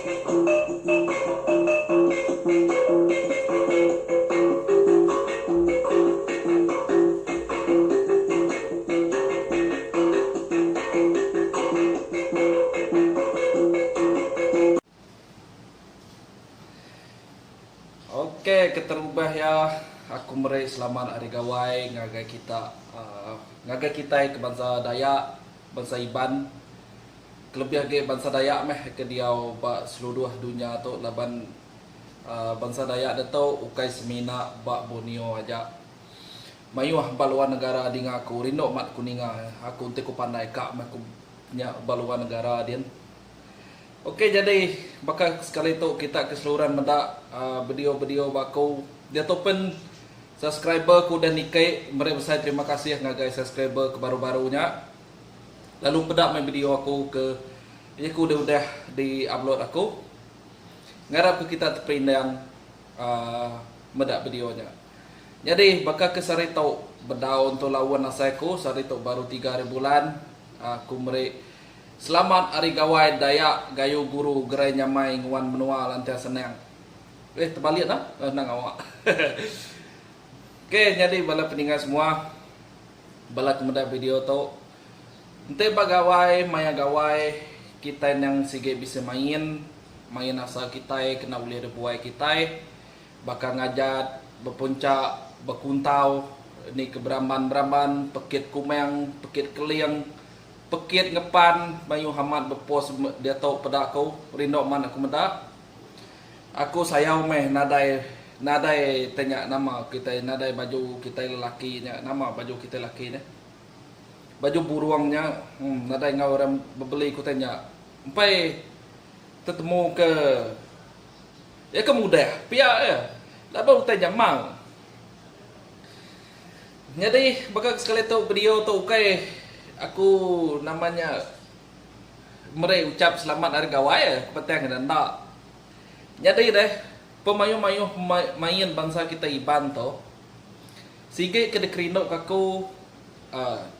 Ok keterubah iya aku meri selamat hari gawai ngagai kita ngagai kitai ke bansa dayak bansa iban. kelebih agi bansa Dayak meh ke diau ba seluruh dunya tu laban bansa Dayak ditu ukai semina ba Borneo aja. Mayuh ba luar negara dinga aku rindu mat ku ninga aku enti ku pandai ka meh ku nya ba luar negara din. Ok jadi baka sekali tu kita ke seluran meda video video ba aku diatu pen subscriber ku udah niki meri besai terima kasih ngagai subscriber ke baru baru nya. Lalu peda mai video aku ke jaku dah udah di upload aku. Ngarap ke kita teperindang uhh meda video nya. Nyadi baka ke sehari tu bedau entu laun asai aku sehari tu baru tiga hari bulan uhh aku meri selamat hari gawai dayak gayu guru gerai nyamai nguan menua lantian senang. Eh terbalik nah. Endang awak. Hehe. Ok nyadi bala peninga semua. Bala ke meda video tu enti ba gawai maya gawai kitai endang sigi bisi main, main asal kitai kena ulih dibuai kitai baka ngajat, bepunca, bekuntau, ni ke beramban-beramban, pekit kumang, pekit keling, pekit ngepan mayuh amat bepost diatu peda aku, rindu amat aku meda. Aku sayau meh nadai nadai te nya nama kitai nadai baju kitai lelaki nya nama baju kitai lelaki nya baju burung nya emm nadai enggau orang bebeli ku te nya empai tetemu ke iya ke mudah pia iya laban utai nya mau nyadi baka sekali tu video tu ukai aku nama nya. meri uchap selamat ari gawai petang ida enda. Nyadi deh pemayuh-mayuh main bansa kitai Iban tu sigi ke dikerinduka aku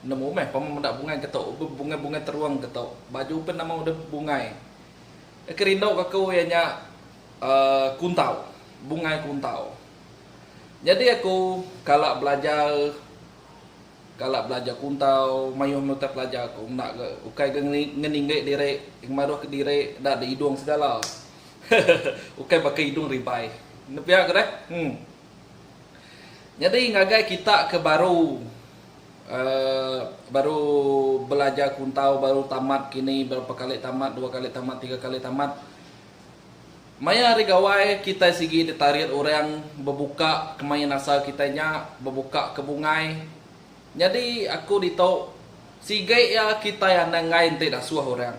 nemu meh pama meda bungai ke tu be bungai-bungai terung ke tu baju pun nama udah bungai. Ke kerinduka aku iya nya aaa kuntau bungai kuntau. Nyadi aku kala belajar. Kala belajar kuntau, mayuh menutai pelajar ku enda ga ukai ga ngeninggi diri ngemaruh ka diri enda ada idung segala. ukai baka idung ribai. Enda pia ke deh. Hum. Nyadi ngagai kita ke baru uhh baru belajar kuntau baru tamat kini berapa kali tamat dua kali tamat tiga kali tamat. Maya hari Gawai, kitai sigi ditarit orang bebuka ke main asal kitai nya, bebuka ke bungai. Nyadi aku ditu, sigi iya kitai anang enggai enti dasuh orang.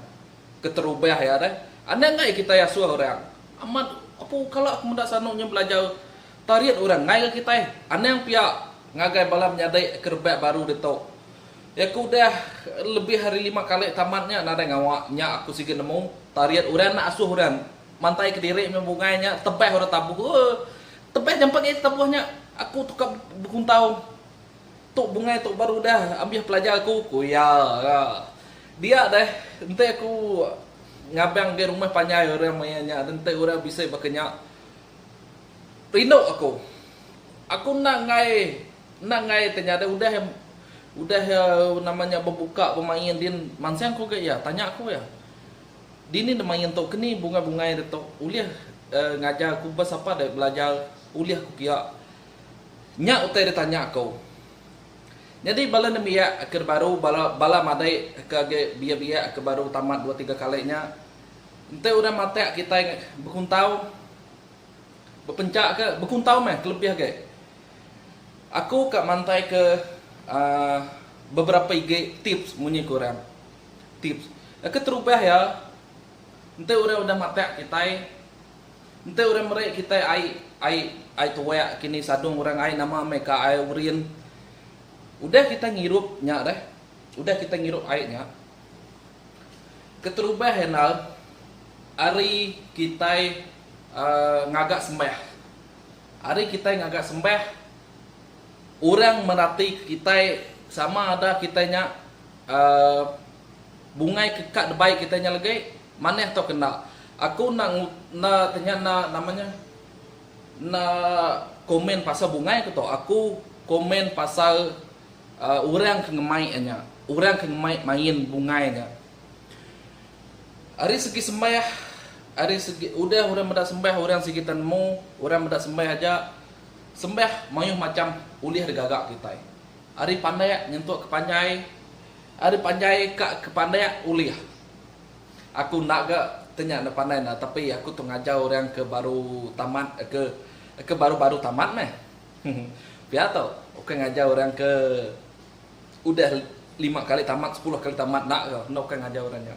Keterubah iya deh, anang enggai kitai asuh orang. Amat, apu kala aku meda sanu nya belajar tarit orang enggai ga kitai. Anang pia ngagai bala menyadi ke rebak baru ditu. Iya ke udah lebih ari lima kali tamat nya nadai ngawa nya aku siga nemu tarit orang enda asuh orang mantai kediri meh bungai nya tebah orang tabuh ooh tebah jampat agi tabuh nya aku tu ka bekuntau tu bungai tu baru udah ambih pelajar aku ku iya ga dia deh enti aku ngabang agi rumah panjai orang maya nya dan enti orang bisi baka nya rindu aku aku enda enggai. Enda enggai te nyadi udah iya udah iya nama nya bebuka bemain din mansang ku ga iya tanya ku iya dini ne main tu keni bungai bungai ditu ulih ngajar ku bas apa deh belajar ulih ku pia nya utai di tanya ku nyadi bala nembiak ke di baru bala bala madai ke agi biak biak ke baru tamat dua tiga kali nya enti orang matak kitai bekuntau. Bepenca ke bekuntau meh kelebih agi. Aku ka mantai ke uhh beberapa igi tips munyi ke orang. Tips. Keterubah iya enti orang udah matak kitai enti orang meri kitai ai ai ai tuak kini sadung orang ai nama meh ka ai urin. Udah kitai ngirup nya deh udah kitai ngirup ai nya keterubah enda ari kitai ngaga sembah. Ari kitai ngaga sembah, orang meratika kitai sama ada kitai nya bungai ke ka dibai kitai nya legei manah tauka enda. Aku enda enda tanya enda nama nya enda komen pasal bungai ku tu. Aku komen pasal orang ke ngemai nya, orang ke ngemai main bungai nya. Ari segi sembah, ari segi udah orang meda sembah orang sigi ta nemu, orang meda sembah aja. Sembah mayuh macham ulih digaga kitai. Ari pandak nyentuk ke panjai, ari panjai ka ke pandak ulih. Aku enda ga ti nya enda pandai ne tapi aku tu ngajar orang ke baru tamat ke ke baru-baru tamat meh. Pia tu, ukai ngajar orang ke. udah lima kali tamat sepuluh kali tamat enda ga enda ukai ngajar orang nya.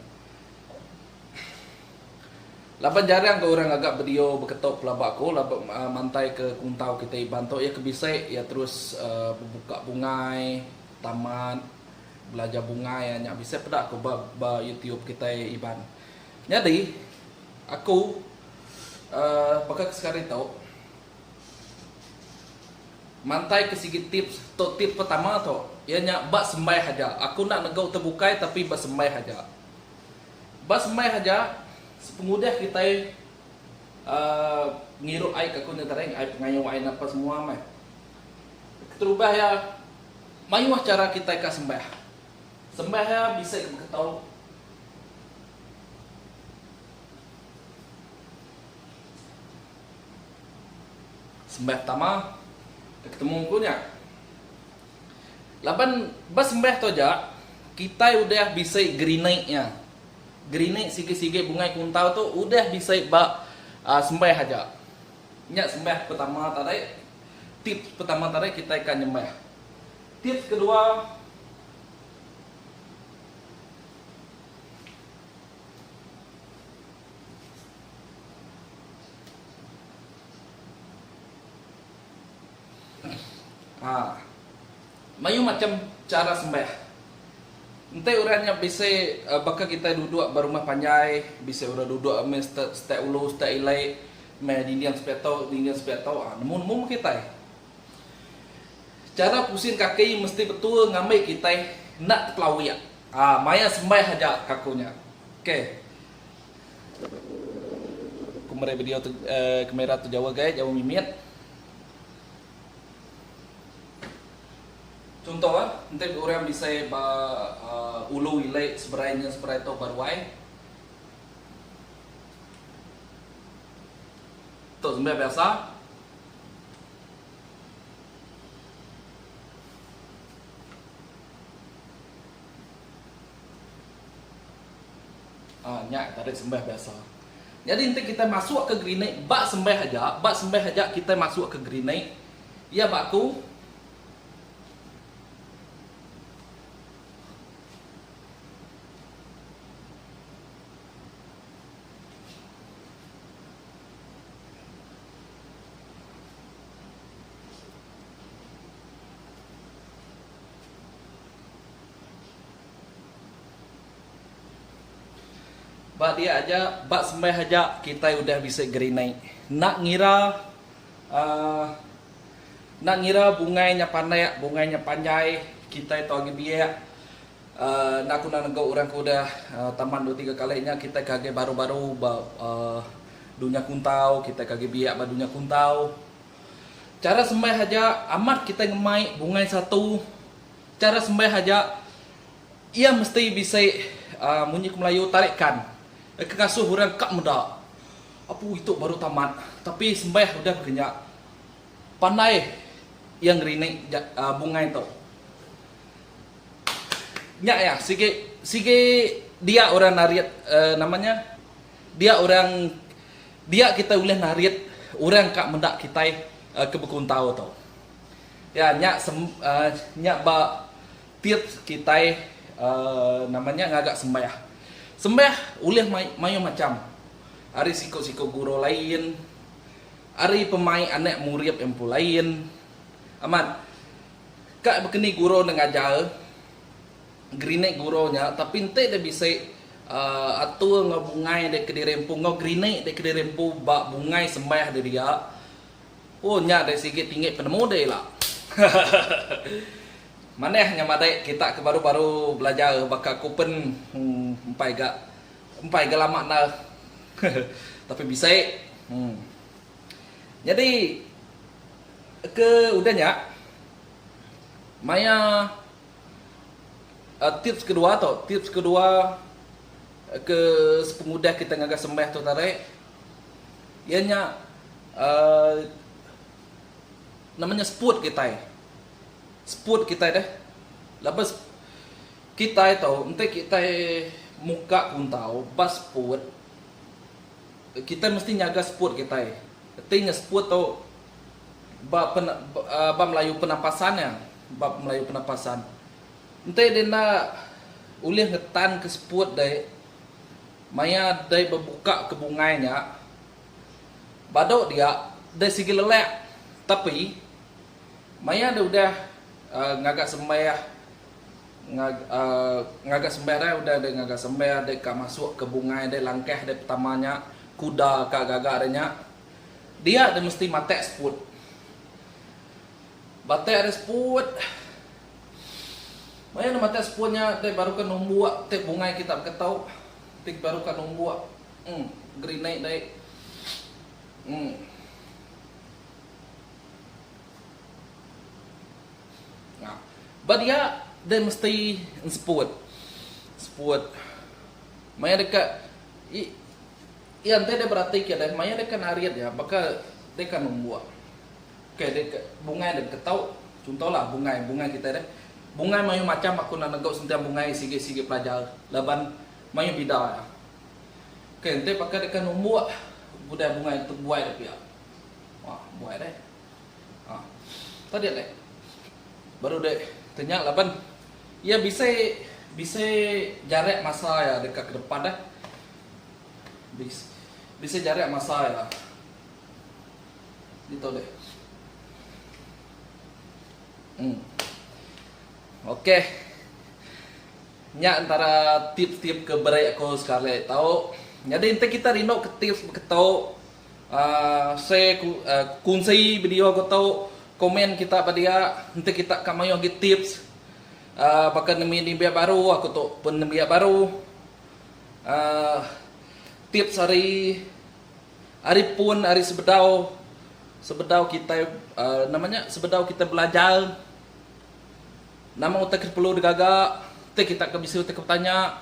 Laban jarang ga orang ngaga bedio beketo pelaba aku laban mantai ke kuntau kitai Iban tu iya ke bisi iya terus bebuka bungai tamat belajar bungai nya bisi peda aku ba ba YouTube kitai Iban. Nyadi aku uhh baka ke sekali tu. Mantaika sigi tips tu tip pertama tu iya nya ba sembaih aja aku enda nega utai bukai tapi ba sembaih aja. Ba sembaih aja pengudah kitai uhh ngirup ai ke aku nya tadi ai pengayo ai napa semua meh. Keterubah iya mayuh chara kitai ka sembaih. Sembaih iya bisi ka beketu Sembah tama ke ketemu empu nya. Laban ba sembah tu aja kitai udah bisi gerini iya. Gerini sigi-sigi bungai kuntau tu udah bisi ba aa sembah aja. Nya sembah pertama tadi. Tips pertama tadi kitai ka nyembah. Tips kedua Ha. Mayuh macham chara sembah. Enti orang nya bisi baka kitai duduk ba rumah panjai, bisi orang duduk meh step step ulu step ilek, meh dinding sepiak tu dinding sepiak tu, ha nemu nemu meh kitai. Chara pusing kaki mesti betul ngambi kitai enda tepelawik. Aa maya sembaih aja ka ku nya. Ok. Aku meri video tu eh, kamera tu jauh gai, jauh mimit. Chunto eh, enti orang bisai ba uh, ulu ili seberai enggin seberai tu ba ruai. Tu sembaih biasa. Ah nya tadi sembah biasa. Nyadi enti kitai masuk ke gerinik ba sembah aja, ba sembah aja kitai masuk ke gerinik, iya ba aku Ba dia aja, ba sembah aja kitai udah bisi gerinai. Enda ngira uhh enda ngira bungai nya panak, bungai nya panjai, kitai tu agi biak. Enda ku nang nego orang ke udah taman dua tiga kali nya kitai ke agi baru baru ba dunya kuntau kitai ke agi biak ba dunya kuntau. Chara sembah aja amat kitai ngemai bungai satu chara sembah aja iya mesti bisi uhh munyi ku melayu tarikan ke ngasuh orang ka meda apu itu baru tamat tapi sembah udah mega nya pandai iya ngerinik bungai tu. Nya iya, sigi sigi dia orang narit nama nya dia orang dia kitai ulih narit orang ka meda kitai ke bekuntau tu. Iya nya nya ba tips kitai uhh nama nya ngaga sembah. Sembah ulih mayuh macham ari siku-siku guru lain, ari pemaik anak murid empu lain. Amat Ka bekeni guru enda ngajar gerinik guru nya tapi enti deh bisi uhh atur enggau bungai deh kediri empu enggau gerinik deh kediri empu ba bungai sembah deh dia ooh nya deh sigi tinggi penemu deh ila hahahaha manah nya madai kita ke baru baru belajar baka ku pen empai ga empai ga lama enda hehe tapi bisi uhh. Nyadi ke udah nya maya aaa tips kedua tu, tips kedua ke sepengudah kita ngagai sembah tu tarik iya nya aaa nama nya spot kitai. Spot kitai deh laban sep kitai tu enti kitai muka kuntau ba spot. Kitai mesti nyaga seput kitai. Enti nya seput tu ba pen ba melayu penapasan nya ba melayu penapasan. Enti deh enda ulih ngetan ke seput deh maya deh bebuka ke bungai nya badu dia deh sigi lelak tapi maya deh udah ngaga sembah Ngaga sember ai udah deh ngaga sember deh ka masuk ke bungai deh langkah deh pertama nya kuda ka gaga deh nya dia deh mesti matek seput batek deh seput maya deh matek seput nya deh baru ka numbuk ti bungai kita beketu ti baru ka numbuk um gerinik deh um. Ba dia deh mesti enseput seput maya deka iya enti deh berati ke deh maya deka narit iya baka deka numbuk ke deka bungai deka tau chuntohlah bungai bungai kitai deh bungai mayuh macham aku enda nego sentiang bungai sigi sigi pelajar laban mayuh bida iya ke enti baka deka numbuk udah bungai tu buai deh pia buai deh. Tadi alai baru deh tenya laban iya bisai bisai jarak masa iya deka ke depan deh. Bis bisai jarak masa iya. Ditu deh. Hmm. Okey. Nya antara tips-tips ke beri aku sekali tau. Nyadi enti kita rindu ke tips beketu Share kunsi video ko tu Comment kita ba dia enti kita ka mayuh agi tips baka nemu nembiak baru aku tu pun nembiak baru Tips ari ari pun ari sebedau sebedau kitai nama nya sebedau kitai belajar nama utai ke perlu digaga enti kita ka bisi utai ke betanya.